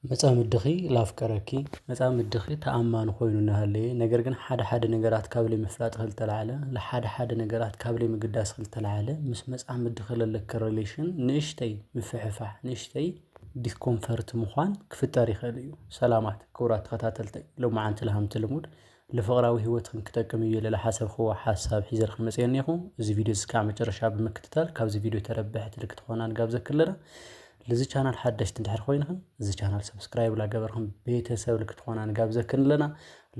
መጻምድኺ ላፍቀረኪ፣ መጻምድኺ ተኣማኒ ኮይኑ እናሃለየ ነገር ግን ሓደ ሓደ ነገራት ካብ ለይምፍላጥኺ ዝተላዕለ ሓደ ሓደ ነገራት ካብ ለይምግዳስኺ ዝተላዕለ ምስ መጻምድኺ ለለኪ ሪሌሽን ንእሽተይ ምፍሕፋሕ ንእሽተይ ዲስኮምፈርት ምዃን ክፍጠር ይኽእል እዩ። ሰላማት ክቡራት ተኸታተልተይ ሎምዓንቲ ለሃምቲ ልሙድ ልፍቕራዊ ህይወትክን ክጠቅም እዩ ኢለ ልሓሰብክዎ ሓሳብ ሒዘልክን መጽየ እኔኹ። እዚ ቪድዮ እዚ ክሳዕ መጨረሻ ብምክትታል ካብዚ ቪድዮ ተረበሕቲ ልክትኾና ንጋብዘክን ኣለና። ልዚ ቻናል ሓደሽቲ እንድሕር ኮይንክን እዚ ቻናል ሰብስክራይብ ላገበርክን ቤተሰብ ልክትኾና ንጋብዘክን ኣለና።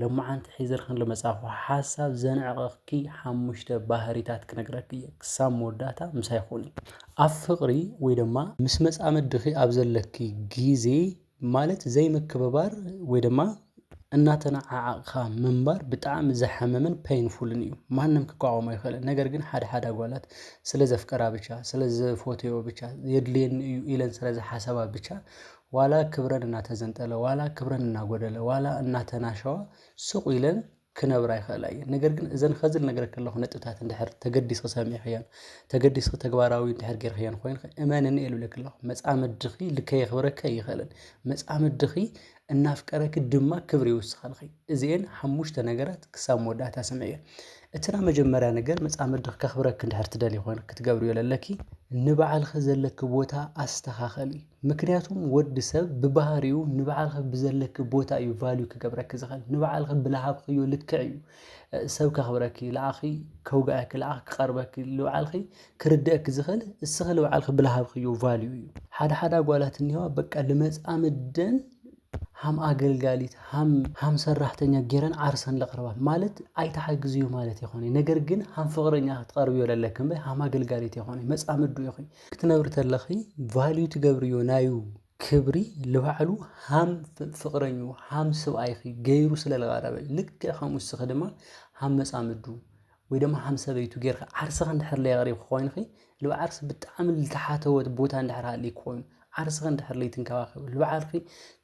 ሎመዓንቲ ሒዘልክን ልመጻኹ ሓሳብ ዘንዕቐክኪ ሓሙሽተ ባህሪታት ክነግረኪ እየ። ክሳብ መወዳእታ ምሳይ ኩኒ። ኣብ ፍቕሪ ወይ ደማ ምስ መጻምድኺ ኣብ ዘለኪ ግዜ ማለት ዘይምክብባር ወይ ድማ እናተነዓዓቕኻ ምንባር ብጣዕሚ ዘሕምምን ፔንፉልን እዩ ማንም ክቋወሞ ኣይክእልን ነገር ግን ሓደ ሓደ ኣጓላት ስለ ዘፍቀራ ብቻ ስለ ዝፎትዎ ብቻ የድልየኒ እዩ ኢለን ስለ ዝሓሰባ ብቻ ዋላ ክብረን እናተዘንጠለ ዋላ ክብረን እናጎደለ ዋላ እናተናሸዋ ስቕ ኢለን ክነብራ ይኽእላ እየን። ነገር ግን እዘን ኸዚ ልነግረኪ ኣለኹ ነጥብታት እንድሕር ተገዲስኺ ሰሚዕኽዮን ተገዲስኺ ተግባራዊ እንድሕር ጌርክዮን ኾይንኺ እመንኒ እየ ልብለኪ ኣለኹ። መጻምድኺ ልከየኽብረኪ ኣይኽእልን። መጻምድኺ እናፍቀረኪ ድማ ክብሪ ይውስኸልኺ። እዚኤን ሓሙሽተ ነገራት ክሳብ መወዳእታ ስምዕዮ። እቲ ናይ መጀመርያ ነገር መጻምድኺ ከኽብረኪ እንድሕር ትደልዪ ኾይንኺ ክትገብርዮ ለለኪ ንባዕልኺ ዘለኪ ቦታ ኣስተኻኽሊ። ምክንያቱም ወዲ ሰብ ብባህሪኡ ንባዕልኺ ብዘለኪ ቦታ እዩ ቫልዩ ክገብረኪ ዝኽእል ንባዕልኺ ብልሃብክዮ ልክዕ እዩ ሰብ ከኽብረኪ ልኣኺ ከውግኣኪ ልኣኺ ክቐርበኪ ልባዕልኺ ክርድአኪ ዝኽእል እስኺ ልባዕልኺ ብልሃብክዮ ቫልዩ እዩ። ሓደ ሓደ ኣጓላት እኒሀዋ በቃ ልመፃምደን ሃም ኣገልጋሊት ሃም ሃም ሰራሕተኛ ጌረን ዓርሰን ለቕርባ ማለት ኣይትሓግዝዮ ማለት የኾነይ ነገር ግን ሃም ፍቕረኛ ክትቐርብዮ ለለኪ እምበይ ሃም ኣገልጋሊት የኾነይ መፃምዱ ኢኺ ክትነብሪ ተለኺ ቫልዩ ትገብርዮ ናዩ ክብሪ ልባዕሉ ሃም ፍቕረኙ ሃም ስብኣይኺ ገይሩ ስለ ልቐረበ ልክዕ ከምኡ ንስኺ ድማ ሃም መጻምዱ ወይ ድማ ሃም ሰበይቱ ገይርኺ ዓርስኺ እንድሕር ለየቕሪብኪ ኮይንኺ ልብ ዓርሲ ብጣዕሚ ልተሓተወት ቦታ እንድሕር ሃልዩ ኮይኑ ዓርስኺ እንድሕር ለይትንከባኸቢ ልባዕልኺ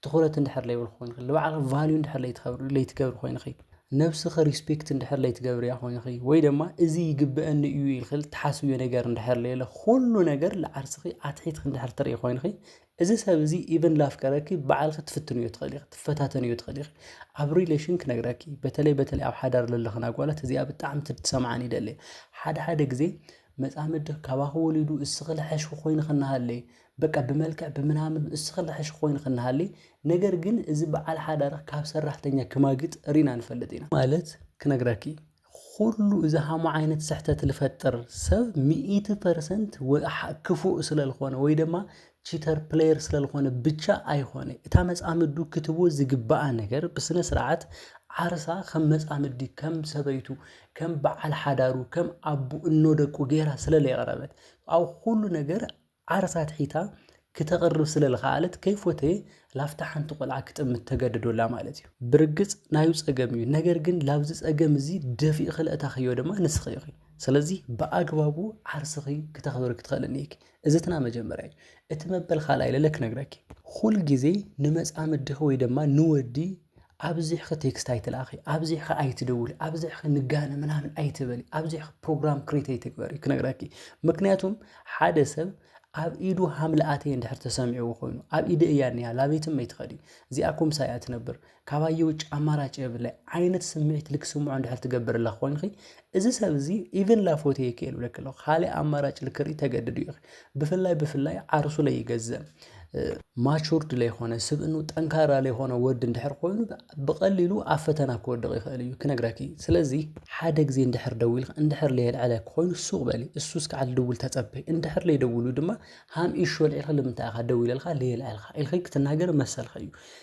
ትኹረት እንድሕር ለይብልኪ ኮይንኺ ልባዕልኺ ቫልዩ እንድሕር ለይትገብሪ ኮይንኺ ነብስኺ ሪስፔክት እንድሕር ለይትገብርያ ኮይንኺ ወይ ደማ እዚ ይግበኣኒ እዩ ኢልኺ ልትሓስብዮ ነገር እንድሕር ለየለ ኩሉ ነገር ልዓርስኺ ኣትሒትኺ እንድሕር ትሪኢ ኮይንኺ እዚ ሰብ እዚ ኢቨን ላፍቀረኪ ባዕልኺ ትፍትንዮ ትኽእሊ ኢኺ ትፈታተንዮ ትኽእሊ ኢኺ ኣብ ሪሌሽን ክነግረኪ በተለይ በተለይ ኣብ ሓዳር ለለኽን ኣጓላት እዚኣ ብጣዕሚ ትሰምዓን ይደሊ ሓደ ሓደ ግዜ መጻምድኽ ካባኺ ወሊዱ እስኺ ልሐሽኺ ኮይንኺ እናሃለየ በቃ ብመልክዕ ብምናምን እስኺ ልሐሽኺ ኮይንኺ እናሃለየ ነገር ግን እዚ በዓል ሓዳርኽ ካብ ሰራሕተኛ ክማግጥ ሪና ንፈልጥ ኢና። ማለት ክነግረኪ ኹሉ እዚ ሃሙ ዓይነት ስሕተት ልፈጥር ሰብ ሚእቲ ፐርሰንት ክፉእ ስለልኾነ ወይ ደማ ቺተር ፕለየር ስለልኾነ ብቻ ኣይኾነ እታ መጻምዱ ክትቦ ዝግባኣ ነገር ብስነ ስርዓት ዓርሳ ከም መጻምዲ ከም ሰበይቱ ከም በዓል ሓዳሩ ከም ኣቡ እኖ ደቁ ገይራ ስለለየቕረበት ኣብ ኩሉ ነገር ዓርሳ ትሒታ ክተቕርብ ስለልኸኣለት ከይፎተየ ላፍታ ሓንቲ ቆልዓ ክጥምት ተገደዶላ ማለት እዩ። ብርግጽ ናዩ ጸገም እዩ ነገር ግን ላብዚ ጸገም እዚ ደፊእኺ ለእታኽዮ ድማ ንስኺ ኢኺ ስለዚ ብኣግባቡ ዓርስኺ ክተኽብሪ ክትኽእሊ እኒኢኪ እዚ እቲ ናይ መጀመርያ እዩ። እቲ መበል ካልኣይ ለለ ክነግረኪ ኩል ግዜ ንመጻምድኺ ወይ ድማ ንወዲ ኣብዚሕኺ ቴክስት ኣይትልኣኺ፣ ኣብዚሕኺ ኣይትደውሊ፣ ኣብዚሕኺ ንጋነ ምናምን ኣይትበሊ፣ ኣብዚሕኺ ፕሮግራም ክሬት ኣይትግበሪ ክነግረኪ። ምክንያቱም ሓደ ሰብ ኣብ ኢዱ ሃምልኣተይ እንድሕር ተሰሚዕዎ ኮይኑ ኣብ ኢደ እያ እኒሃ ላበይትም ኣይትኸዲ እዚኣ ኩምሳ እያ ትነብር ካባይ ውጭ ኣማራጭ የብለ ዓይነት ስምዒት ልክስምዖ እንድሕር ትገብርላ ኮይንኺ እዚ ሰብ እዚ ኢቨን ላፎቴ ይክእል ብለክ ኣለኹ ካልእ ኣማራጭ ልክርኢ ተገድዱ ኢኺ ብፍላይ ብፍላይ ዓርሱ ለይገዘም ማቹርድ ለይኮነ ስብእኑ ጠንካራ ለይኮነ ወዲ እንድሕር ኮይኑ ብቐሊሉ ኣብ ፈተና ክወድቕ ይኽእል እዩ ክነግረኪ ስለዚ ሓደ ግዜ እንድሕር ደዊልክ እንድሕር ለየልዕለ ኮይኑ ሱቕ በሊ እሱ እስከዓል ድውል ተጸበይ እንድሕር ለይደውሉ ድማ ሃም ኢሹ ኣልዒልካ ልምንታይ ኢኻ ደዊለልካ ለየልዕልካ ኢልኺ ክትናገር መሰልካ እዩ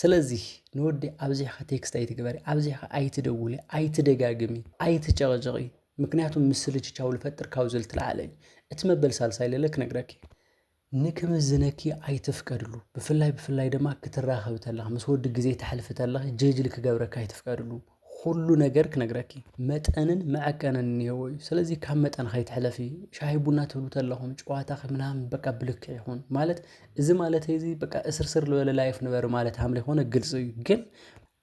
ስለዚ ንወዲ ኣብዚሕካ ቴክስት ኣይትግበሪ ኣብዚሕካ ኣይትደውሊ ኣይትደጋግሚ ኣይትጨቕጭቒ ምክንያቱ ምስልችቻው ልፈጥር ካብ ዝብል ትልዓለ እዩ እቲ መበል ሳልሳይ ለለ ክነግረኪ እየ ንክምዝነኪ ኣይትፍቀድሉ ብፍላይ ብፍላይ ድማ ክትራኸቢ ተለኺ ምስ ወዲ ግዜ ተሕልፊ ተለኺ ጀጅሊ ክገብረካ ኣይትፍቀድሉ ኹሉ ነገር ክነግረኪ መጠንን መዐቀንን እኒሀዎ እዩ። ስለዚ ካብ መጠን ከይትሕለፊ ሻሂ ቡና ትብሉ ተለኹም ጨዋታ ምናምን በቃ ብልክ ይኹን ማለት እዚ ማለት እዚ በቃ እስርስር ዝበለ ላይፍ ንበሪ ማለት ሃምለ ይኾነ ግልፂ እዩ ግን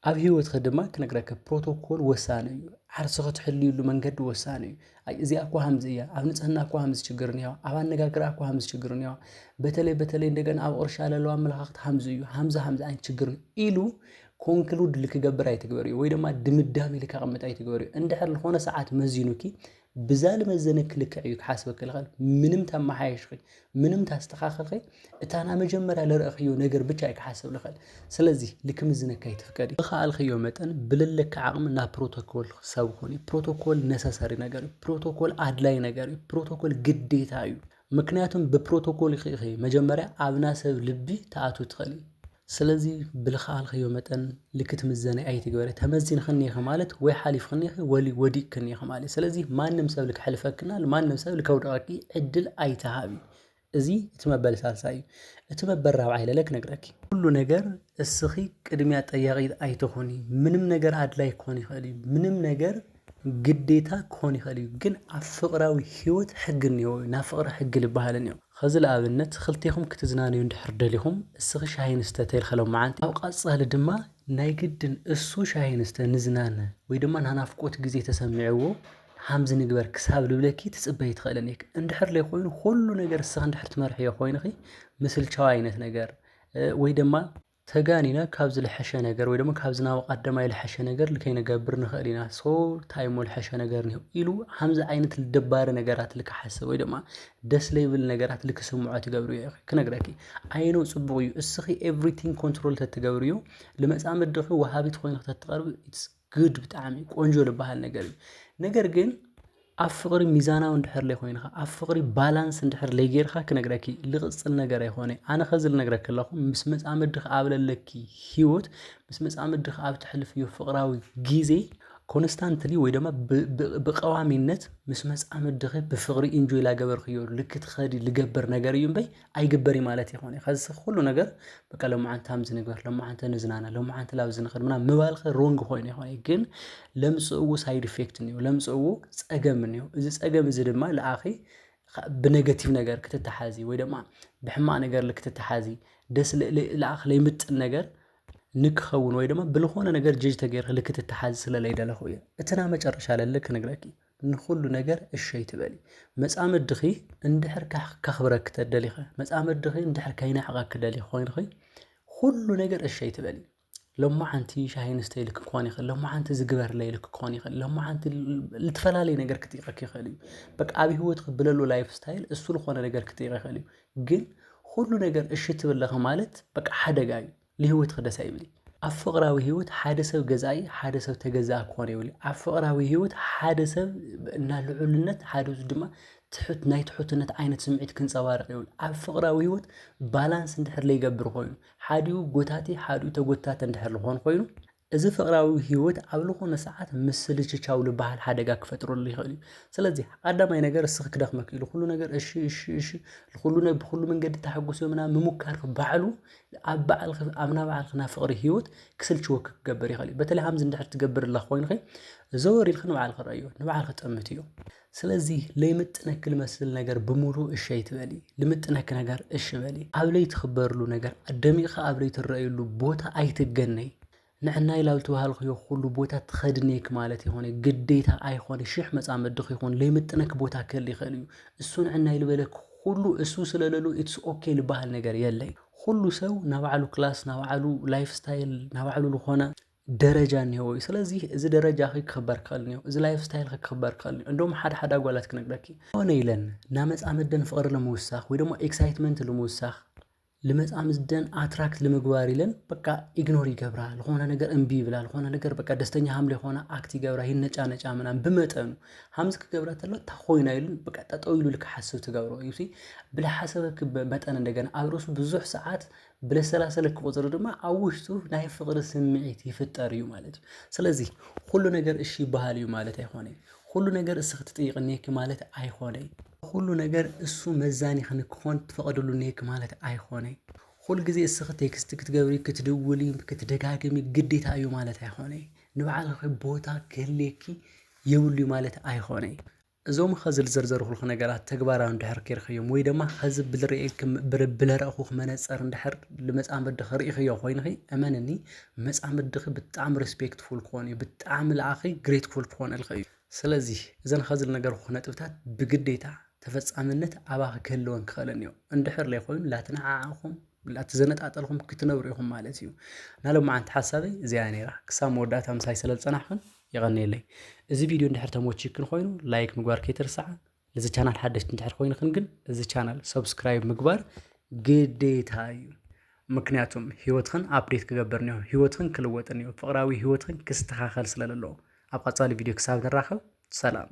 ኣብ ህይወትኺ ድማ ክነግረከ ፕሮቶኮል ወሳኒ እዩ ዓርሲ ክትሕልዩሉ መንገዲ ወሳኒ እዩ እዚኣ እኳ ሃምዚ እያ ኣብ ንፅህና እኳ ሃምዚ ችግር እኒዋ ኣብ ኣነጋግራ እኳ ሃምዚ ችግር እኒዋ በተለይ በተለይ እንደገና ኣብ ቕርሻ ለለዋ ኣመለኻኽት ሃምዚ እዩ ሃምዚ ሃምዚ ኣይነት ችግር ኢሉ ኮንክሉድ ልክገብር ኣይትግበርዮ ወይ ድማ ድምዳሜ ልከቐምጥ ኣይትግበርዮ እንድሕር ልኾነ ሰዓት መዚኑኪ ብዛ ልመዘነኪ ልክዕ እዩ ክሓስበኪ ልኽእል ምንም ተመሓየሽኺ ምንም ታስተኻኽልኺ እታ ና መጀመርያ ልርእኽዮ ነገር ብቻ እዩ ክሓስብ ልኽእል ስለዚ ልክምዝነካ ኣይትፍቀድ ብኸኣልኽዮ መጠን ብልለኪ ዓቕሚ ናብ ፕሮቶኮል ሰብ ኹኒ ፕሮቶኮል ነሰሰሪ ነገር እዩ ፕሮቶኮል ኣድላይ ነገር እዩ ፕሮቶኮል ግዴታ እዩ ምክንያቱም ብፕሮቶኮል ኢኺ መጀመርያ ኣብና ሰብ ልቢ ተኣቱ ትኽእሊ ስለዚ ብልኸኣልክዮ መጠን ልክት ምዘነ ኣይትግበሪ ተመዚንክኒ ኢኺ ማለት ወይ ሓሊፍክኒ ኢኺ ወሊ ወዲቅክኒ ኢኺ ማለት ስለዚ ማንም ሰብ ልክሕልፈክና ልማንም ሰብ ልከውድቀኪ ዕድል ኣይትሃቢ እዚ እቲ መበል ሳልሳይ እዩ እቲ መበል ራብዓይ ለለ ክነግረኪ ኩሉ ነገር እስኺ ቅድሚያ ጠያቂት ኣይትኹኒ ምንም ነገር ኣድላይ ክኾን ይኽእል እዩ ምንም ነገር ግዴታ ክኾን ይኽእል እዩ ግን ኣብ ፍቅራዊ ሂወት ሕጊ እኒሀዎ እዩ ናብ ፍቅሪ ሕጊ ልበሃል እኒኦ ኸዚ ልኣብነት ኽልቴኹም ክትዝናነዩ እንድሕር ደሊኹም እስኺ ሻሂ ንስተ ተልካ ሎምዓንቲ ኣብ ቐፃሊ ድማ ናይ ግድን እሱ ሻሂ ንስተ ንዝናነ ወይ ድማ ናናፍቆት ግዜ ተሰሚዕዎ ሃምዚ ንግበር ክሳብ ልብለኪ ትፅበዪ ትኽእሊ እኒኪ እንድሕር ለይኾይኑ ኹሉ ነገር እስኺ እንድሕር ትመርሕዮ ኾይንኺ ምስልቻው ኣይነት ነገር ወይ ደማ ተጋኒና ካብ ዝልሐሸ ነገር ወይ ደሞ ካብ ዝናወቅ ኣደማይ ልሐሸ ነገር ልከይነገብር ንኸእል ኢና so ታይ እሞ ልሐሸ ነገር እኒሆ ኢሉ ሀምዚ ኣይነት ልደባሪ ነገራት ልክሓስብ ወይ ደማ ደስ ለይብል ነገራት ልክስምዖ ትገብርዮ ኢኺ ክነግረኪ ኣይኖው ፅቡቅ እዩ እስኺ everything control ተትገብርዮ ልመፃምድኺ ወሃቢት ኾይንኺ ተትቀርቢ it's ግድ ብጣዕሚ ቆንጆ ልበሃል ነገር እዩ ነገር ግን ኣብ ፍቕሪ ሚዛናዊ እንድሕር ለይኮይንኻ ኣብ ፍቕሪ ባላንስ እንድሕር ለይጌርካ ክነግረኪ ልቕጽል ነገር ኣይኮነይ ኣነ ኸዚ ልነግረኪ ኣለኹ ምስ መጻምድኺ ኣብ ለለኪ ሂወት ምስ መጻምድኺ ኣብ ተሕልፍዮ ፍቕራዊ ጊዜ ኮንስታንትሊ ወይ ደማ ብቐዋሚነት ምስ መጻምድኺ ብፍቕሪ ኢንጆይ ላገበርክዮ ልክትኸዲ ልገብር ነገር እዩ እምበይ ኣይግበር እዩ ማለት ኣይኮነን ከዚ ሰብ ኩሉ ነገር በቃ ሎምዓንቲ ሃምዚ ንግበር ሎምዓንቲ ንዝናነ ሎምዓንቲ ላብዚ ንኸድ ምናምን ምባልከ ሮንግ ኮይኑ ይኮነ ግን ለምጽእዎ ሳይድ ኢፌክት እኒኦ ለምጽእዎ ጸገም እኒኦ እዚ ጸገም እዚ ድማ ልኣኺ ብነገቲቭ ነገር ክትተሓዚ ወይ ድማ ብሕማቅ ነገር ልክትተሓዚ ደስ ልኣኽ ለይምጥን ነገር ንክኸውን ወይ ድማ ብልኾነ ነገር ጀጅ ተገይርክ ልክትተሓዚ ስለለይደለኹ እዩ እትና መጨረሻ ለለ ክንግረኪ ንኹሉ ነገር እሺ ኣይትበሊ። መጻምድኺ እንድሕር ከኽብረኪ ተደሊኸ፣ መጻምድኺ እንድሕር ከይናሕቐኪ ደሊኺ ኮይንኺ ኩሉ ነገር እሺ ኣይትበሊ። ሎማዓንቲ ሻሂ ንስተ ኢልክ ክኾን ይኽእል፣ ሎማዓንቲ ዝግበርለ ኢልክ ክኾን ይኽእል፣ ሎማዓንቲ ልትፈላለየ ነገር ክጥይቐክ ይኽእል እዩ። በቃ ኣብ ህይወትክ ብለሉ ላይፍ ስታይል እሱ ዝኾነ ነገር ክጥይቕ ይኽእል እዩ። ግን ኩሉ ነገር እሺ ትብለኺ ማለት በቃ ሓደጋ እዩ። ንህይወት ክደሳ ይብሊ። ኣብ ፍቕራዊ ህይወት ሓደ ሰብ ገዛኢ ሓደ ሰብ ተገዛኢ ክኾን የብሉ። ኣብ ፍቕራዊ ህይወት ሓደ ሰብ እና ልዑልነት ሓደ ሰብ ድማ ትሑት ናይ ትሑትነት ዓይነት ስምዒት ክንጸባርቕ የብሉ። ኣብ ፍቕራዊ ህይወት ባላንስ እንድሕር ዘይገብር ኮይኑ ሓዲኡ ጎታቲ ሓዲኡ ተጎታቲ እንድሕር ዝኾን ኮይኑ እዚ ፍቕራዊ ህይወት ኣብ ልኾነ ሰዓት ምስልችቻው ልበሃል ሓደጋ ክፈጥረሉ ይኽእል እዩ። ስለዚ ቐዳማይ ነገር እስኺ ክደኽመኪ እዩ ልኹሉ ነገር እሺ እሺ እሺ ልኹሉ ነ ብኹሉ መንገዲ ተሓጉሶ ምናምን ምሙካርኺ ባዕሉ ኣብ ባዕልኺ ኣብ ናይ ባዕልኺ ናይ ፍቕሪ ህይወት ክስልችወኪ ክገብር ይኽእል እዩ። በተለይ ሃምዚ እንድሕር ትገብርላ ኮይንኺ ዘወር ኢልኺ ንባዕልኺ ረኣዮ ንባዕልኺ ጠምትዮ። ስለዚ ለይምጥነኪ ልመስል ነገር ብምሉኡ እሺ ኣይትበሊ። ልምጥነኪ ነገር እሺ በሊ። ኣብ ለይትክበርሉ ነገር ኣደሚቕኺ ኣብ ለይትረኣይሉ ቦታ ኣይትገነይ። ንዕናይ ላብ ልትበሃልክዮ ኩሉ ቦታ ትኸድኔኪ ማለት ኣይኮነይ። ግዴታ ኣይኮነይ። ሽሕ መጻምድኺ ይኹን ለይምጥነኪ ቦታ ክህሊ ይኸእል እዩ። እሱ ንዕናይ ልበለኪ ኩሉ እሱ ስለለሉ ኢትስ ኦኬ ልበሃል ነገር የለይ። ኩሉ ሰው ናባዕሉ ክላስ፣ ናባዕሉ ላይፍ ስታይል፣ ናባዕሉ ልኾነ፣ ደረጃ እኒሀዎ እዩ ስለዚ እዚ ደረጃ ክክበር ክኽእል እኒኦ እዚ ላይፍ ስታይል ክክበር ክኽእል እኒኦ እንደውም ሓደ ሓደ ኣጓላት ክነግረኪ ሆነ ኢለን ናመፃምደን ፍቕሪ ንምውሳኽ ወይ ደሞ ኤክሳይትመንት ልምውሳኽ ልመፃምደን ኣትራክት ልምግባር ኢለን በቃ ኢግኖር ይገብራ ልኾነ ነገር እምቢ ይብላ ልኾነ ነገር በቃ ደስተኛ ሃም ለይኾና ኣክት ይገብራ ይነጫነጫ ምናምን ብመጠኑ ሃምዚ ክገብራ ተሎ እታ ኮይና ኢሉን በቃ ጠጠው ኢሉ ልክሓስብ ትገብሮ እዩ ብለሓሰበ መጠን እንደገና ኣብ ርእሱ ብዙሕ ሰዓት ብለሰላሰለ ክቁጽሩ ድማ ኣብ ውሽጡ ናይ ፍቅሪ ስምዒት ይፍጠር እዩ ማለት እዩ። ስለዚ ኩሉ ነገር እሺ ይበሃል እዩ ማለት ኣይኮነይ ኩሉ ነገር እስ ክትጥይቅ እኔኪ ማለት ኣይኮነይ ኩሉ ነገር እሱ መዛኒኪ ንክኮን ትፈቅድሉ እኔኪ ማለት ኣይኮነይ ኩል ግዜ እስኪ ቴክስት ክትገብሪ ክትድውሊ ክትደጋግሚ ግዴታ እዩ ማለት ኣይኮነይ ንባዕልኪ ቦታ ክህሌኪ የብሉ እዩ ማለት ኣይኮነይ። እዞም ኸዚ ልዘርዘርኹልኽ ነገራት ተግባራዊ እንድሕር ኬርክዮም ወይ ደማ ኸዚ ብልርኤልክም ብር ብለረእኹኽ መነጸር እንድሕር ልመጻምድኽ ሪኢኽዮ ኾይንኺ እመንኒ መጻምድኺ ብጣዕሚ ሪስፔክትፉል ክኾን እዩ ብጣዕሚ ልኣኺ ግሬትፉል ክኾነልኺ እዩ ስለዚ እዘን ኸዚ ልነገርኹኽ ነጥብታት ብግዴታ ተፈጻምነት ኣባኺ ክህልወን ክኽእለን እዮ እንድሕር ለይኾይኑ ላተነዓዓኹም ላተዘነጣጠልኹም ክትነብሩ ኢኹም ማለት እዩ ናሎማዓንቲ ሓሳበይ እዚኣ እያ ነይራ ክሳብ መወዳእታ ምሳይ ሰለልጸናሕኽን የቐንየለይ እዚ ቪድዮ እንድሕር ተመቺዩክን ኾይኑ ላይክ ምግባር ከይትርስዓ ነዚ ቻናል ሓደሽቲ እንድሕር ኮይንክን ግን እዚ ቻናል ሰብስክራይብ ምግባር ግዴታ እዩ ምክንያቱም ህይወትኽን ኣፕዴት ክገብርን እዮ ህይወትኽን ክልወጥን እዮ ፍቕራዊ ህይወትኽን ክስተኻኸል ስለለለዎ ኣብ ቐጻሊ ቪድዮ ክሳብ ንራኸብ ሰላም።